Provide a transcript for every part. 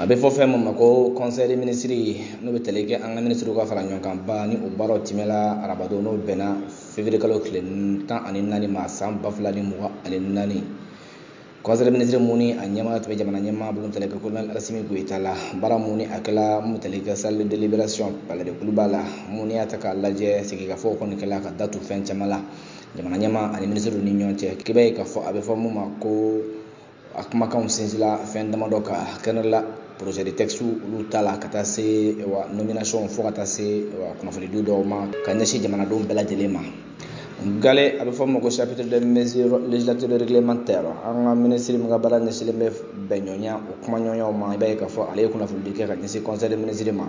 a bɛ fɔ fɛn min ma ko conseil des ministres n'o bɛ tali kɛ an ka minisiriw ka faraɲɔgɔnkanba ni o baaraw tɛmɛla arabadon n'o bɛnna février kalo tile tan ani naani ma san ba fila ni mugan ani naani conseil des ministres mun ni a ɲɛmaa tun bɛ jamana ɲɛmaa bolo tali kɛ kolonɛli asimi goyita la baara mun ni a kɛla mun tali kɛ salle de délibération palais de Kuluba la mun y'a ta k'a lajɛ sigikafɔw kɔni kɛla ka datu fɛn caman la jamana ɲɛmaa ani minisiriw ni ɲɔgɔn cɛ k'i b'a ye k'a fɔ a bɛ fɔ mun ma ko a kumakanw sinsinla fɛn damadɔ kan kɛnɛ la projet de texte olu tala ka taa se wa nomination fo ka taa se wa kunnafoni di dɔw ma ka ɲɛsin jamanadenw bɛɛ lajɛlen ma gale a bɛ fɔ ma ko chapitre de mesures législatives et réglementaires an ka minisiri min ka baara ɲɛsinlen bɛ bɛnɲɔgɔnya o kumaɲɔgɔnyaw ma i b'a ye k'a fɔ ale ye kunnafonidi kɛ ka ɲɛsin conseil des ministres ma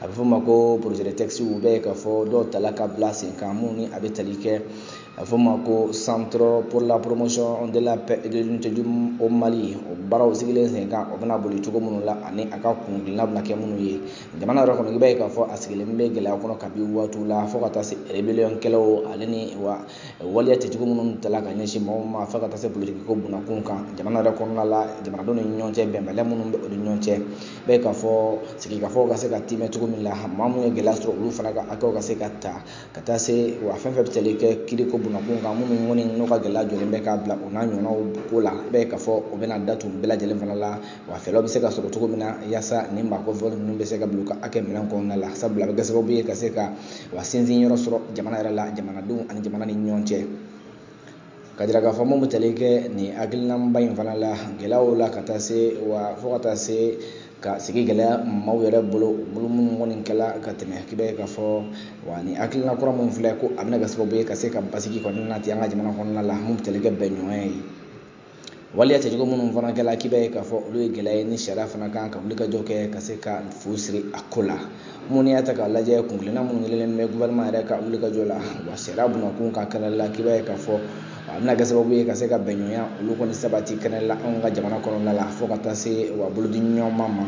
a bɛ fɔ ma ko projet de texte i b'a ye k'a fɔ dɔw tala ka bila sen kan minnu ni a bɛ tali kɛ a fɔ ma ko centre pour la promotion de la paix et de l'unité du au Mali o baaraw sigilen sen kan o bɛna boli cogo minnu la ani a ka kuntilenna bɛna kɛ minnu ye jamana yɛrɛ kɔnɔ i b'a ye k'a fɔ a sigilen bɛ gɛlɛya kɔnɔ kabi waatiw la fo ka taa se rébellion kɛlaw ale ni wa waleya cɛjugu minnu tala ka ɲɛsin mɔgɔw ma fo ka taa se politiki ko bunakun kan jamana yɛrɛ kɔnɔna la jamanadenw ni ɲɔgɔn cɛ bɛnbaliya minnu bɛ o ni ɲɔgɔn cɛ i b'a ye k'a fɔ sigikafɔw ka se ka tiimɛ cogo min la maa minnu ye gɛlɛya sɔrɔ olu fana ka hakɛw ka se ka ta ka taa se wa fɛn fɛn bɛ tali kɛ kiri ko bunakun kan minnu kɔni n'u ka gɛlɛya jɔlen bɛ k'a bila u n'a ɲɔgɔnnaw ko la i b'a ye k'a fɔ o bɛna datu bɛɛ lajɛlen fana la wa fɛɛrɛw bɛ se ka sɔrɔ cogo min na yaasa nin maa kofɔlen ninnu bɛ se ka bila u ka hakɛ minɛn kɔnɔna la sabula a bɛ kɛ sababu ye ka se ka wa sinsin yɔrɔ sɔrɔ jamana yɛrɛ la jamanadenw ani jamana ni ɲɔgɔn cɛ k'a jira k'a fɔ mun bɛ tali kɛ nin hakilinaba in fana la gɛlɛyaw la ka taa se wa fo ka taa se ka sigi gɛlɛya maaw yɛrɛ bolo bolo minnu kɔni kɛla ka tɛmɛ k'i b'a ye k'a fɔ wa ni hakilina kura minnu filɛ ko a bɛna kɛ sababu ye ka se ka basigi kɔni nati an ka jamana kɔnɔna la mun bɛ tali kɛ bɛnɲɔgɔnya ye waleya cɛjugu minnu fana kɛla k'i b'a ye k'a fɔ olu ye gɛlɛya ye ni sariya fana kan ka wulikajɔ kɛ ka se ka fu siri a ko la mun y'a ta k'a lajɛ kuntilenna minnu kɛlen bɛ gouvernement yɛrɛ ka wulikajɔ la wa sariya bunakun kan kɛnɛ la k'i b'a ye k'a fɔ a bɛna kɛ sababu ye ka se ka bɛnɲɔgɔnya olu kɔni sabati kɛnɛ la anw ka jamana kɔnɔna la fo ka taa se wa bolodiɲɔgɔnma ma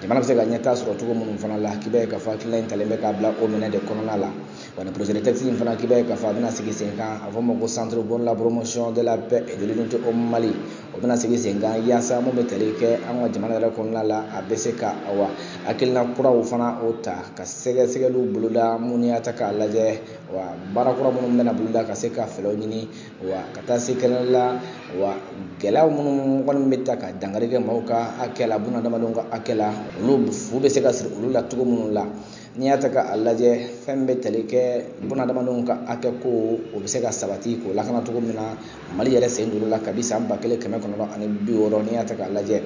jamana bɛ se ka ɲɛtaa sɔrɔ cogo minnu fana la k'i b'a ye k'a fɔ hakilina in talen bɛ k'a bila o minɛ de kɔnɔna la Wa ni projet de texte in fana k'i b'a ye k'a fɔ a bɛna sigi sen kan a fɔ ma ko centre pour la promotion de la paix et de l'unité au Mali o bɛna sigi sen kan yaasa mun bɛ tali kɛ an ka jamana yɛrɛ kɔnɔna la a bɛ se ka awa hakilina kuraw fana o ta ka sɛgɛsɛgɛliw boloda mun y'a ta k'a lajɛ wa baara kura minnu bɛna boloda ka se ka fɛɛrɛw ɲini wa ka taa se kɛnɛ la wa gɛlɛyaw minnu kɔni bɛ ta ka dankari kɛ maaw ka hakɛ la bunadamadenw ka hakɛ la olu fu bɛ se ka siri olu la cogo minnu la n'i y'a ta k'a lajɛ fɛn bɛ tali kɛ bunadamadenw ka hakɛ ko o bɛ se ka sabati k'o lakana cogo min na mali yɛrɛ sen don la kabi san ba kelen kɛmɛ kɔnɔntɔn ani bi wɔɔrɔ n'i y'a ta k'a lajɛ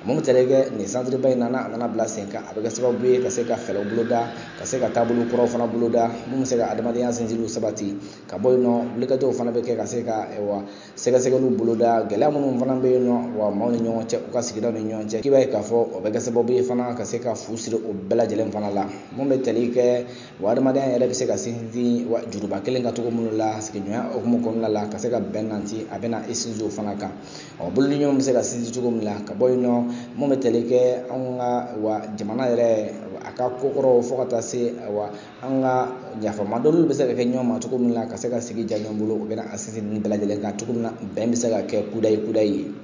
mun tali kɛ nin centre ba in na a nana bila sen kan a bɛ kɛ sababu ye ka se ka fɛɛrɛ boloda ka se ka taabolo kuraw fana boloda mun bɛ se ka adamadenya sinsinniw sabati ka bɔ yen nɔ wulikajɔw fana bɛ kɛ ka se ka wa sɛgɛsɛgɛliw boloda gɛlɛya minnu fana bɛ yen nɔ wa maaw ni ɲɔgɔn cɛ u ka sigidaw ni ɲɔgɔn cɛ k'i b'a ye k'a fɔ o bɛ kɛ sababu ye fana ka se ka fu siri o bɛɛ lajɛlen fana la mun bɛ tali kɛ wa adamadenya yɛrɛ bɛ se ka sinsin wa juruba kelen kan cogo minnu la sigiɲɔgɔnya hukumu kɔnɔna la ka se ka bɛn nati a bɛna i sinsin o fana kan ɔ bolodiɲɔgɔn ɲɔgɔn bɛ se ka sinsin cogo min na ka bɔ yen nɔ mun bɛ tali kɛ anw ka wa jamana yɛrɛ a ka kokɔrɔw fo ka taa se wa an ka yafama dɔnni bɛ se ka kɛ ɲɔgɔn ma cogo min na ka se ka sigi diya ɲɔgɔn bolo u bɛna a sinsin ninnu bɛɛ lajɛlen kan cogo min na bɛn bɛ se ka kɛ kudayi kudayi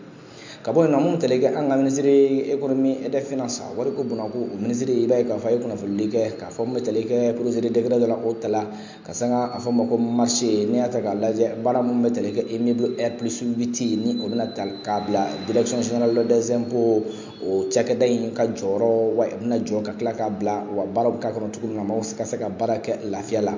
ka bɔ yen nɔ mun tali kɛ an ka ministre économie et des finances wariko bɔnna ko o ministre i b'a ye k'a fɔ a ye kunnafonili kɛ k'a fɔ mun bɛ tali kɛ projet de décret dɔ la o tala ka sanga a fɔ ma ko marché n'i y'a ta k'a lajɛ baara minnu bɛ tali kɛ immeuble R plus huit ni o bɛna ta k'a bila direction générale des impôts o cakɛda in ka jɔyɔrɔ wa a bɛna jɔ ka tila k'a bila wa baara bɛ k'a kɔnɔ cogo min na maaw ka se ka baara kɛ lafiya la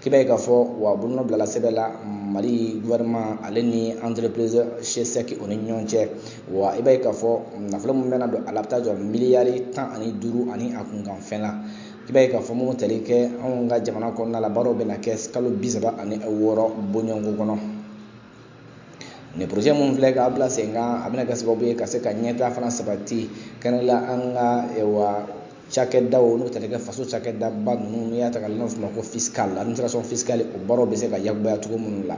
k'i b'a ye k'a fɔ wa bolonɔ bilala sɛbɛn la mali gouvernement ale ni entreprise cesec o ni ɲɔgɔn cɛ wa i b'a ye k'a fɔ nafolo min bɛna don a la a bɛ taa jɔ miliyari tan ani duuru ani a kunkan fɛn la i b'a ye k'a fɔ mun tali kɛ anw ka jamana kɔnɔna la baaraw bɛna kɛ kalo bi saba ani wɔɔrɔ bɔɲɔgɔnko kɔnɔ nin projet mun filɛ k'a bila sen kan a bɛna kɛ sababu ye ka se ka ɲɛtaa fana sabati kɛnɛ la an ka wa cakɛdaw n'o tali kɛ faso cakɛdaba ninnu n'i y'a ta k'a lajɛ n'a fɔ ma ko fiscal administration fiscale o baaraw bɛ se ka yakubaya cogo minnu la